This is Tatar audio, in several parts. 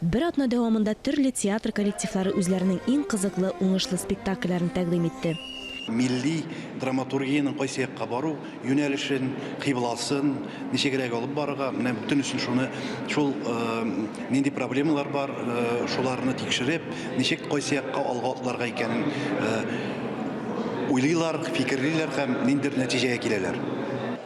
Бер атна дәвамында төрле театр коллективлары үзләренең иң кызыклы, уңышлы спектакльләрен тәкъдим итте. Милли драматургиянең кайсы якка бару юнәлешен, кыйбласын ничегрәк алып барырга, менә бөтенесен шуны, шул нинди проблемалар бар, шуларны тикшереп, ничек, кайсы якка алга атларга икәнен уйлыйлар, фикерлиләр һәм ниндидер нәтиҗәгә киләләр.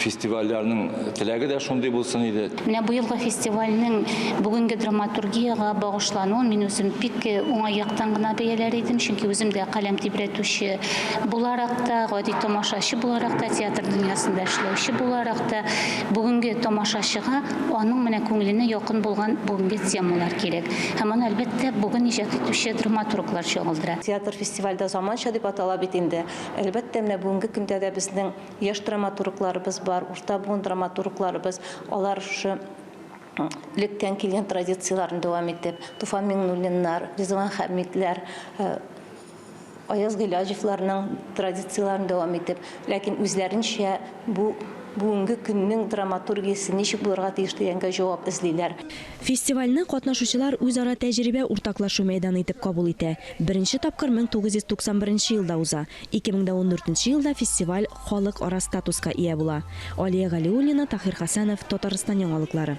фестивальләрнең теләге дә шундый булсын иде. Менә быелгы фестивальнең бүгенге драматургиягә багышлануын мин үзем бик э, уңай яктан гына бәяләр идем, чөнки үзем дә каләм тибрәтүче буларак та, гади тамашачы буларак та, театр дөньясында эшләүче буларак та, бүгенге тамашачыга аның менә күңеленә якын булган бүгенге темалар кирәк. Һәм аны, әлбәттә, бүген иҗат итүче драматурглар чагылдыра. Театр фестивальдә заманча дип атала бит инде. Әлбәттә, менә бүгенге көндә дә безнең Яшь драматургларыбыз бар, урта буын драматургларыбыз, алар шушы лектән килгән традицияләрен дәвам итеп, Туфан Миңнуллиннар, Ризван Хәмидләр, Аяз Гыйләҗевларның традицияләрен дәвам итеп, ләкин үзләренчә бу бүгенге көннең драматургиясе ничек булырга тиеш дигәнгә җавап эзлиләр. Фестивальне катнашучылар үзара тәҗрибә уртаклашу мәйданы итеп кабул итә. Беренче тапкыр 1991 елда уза. 2014 елда фестиваль халык ара статуска ия була. Алия Галиуллина, Таһир Хәсәнов, Татарстан яңалыклары.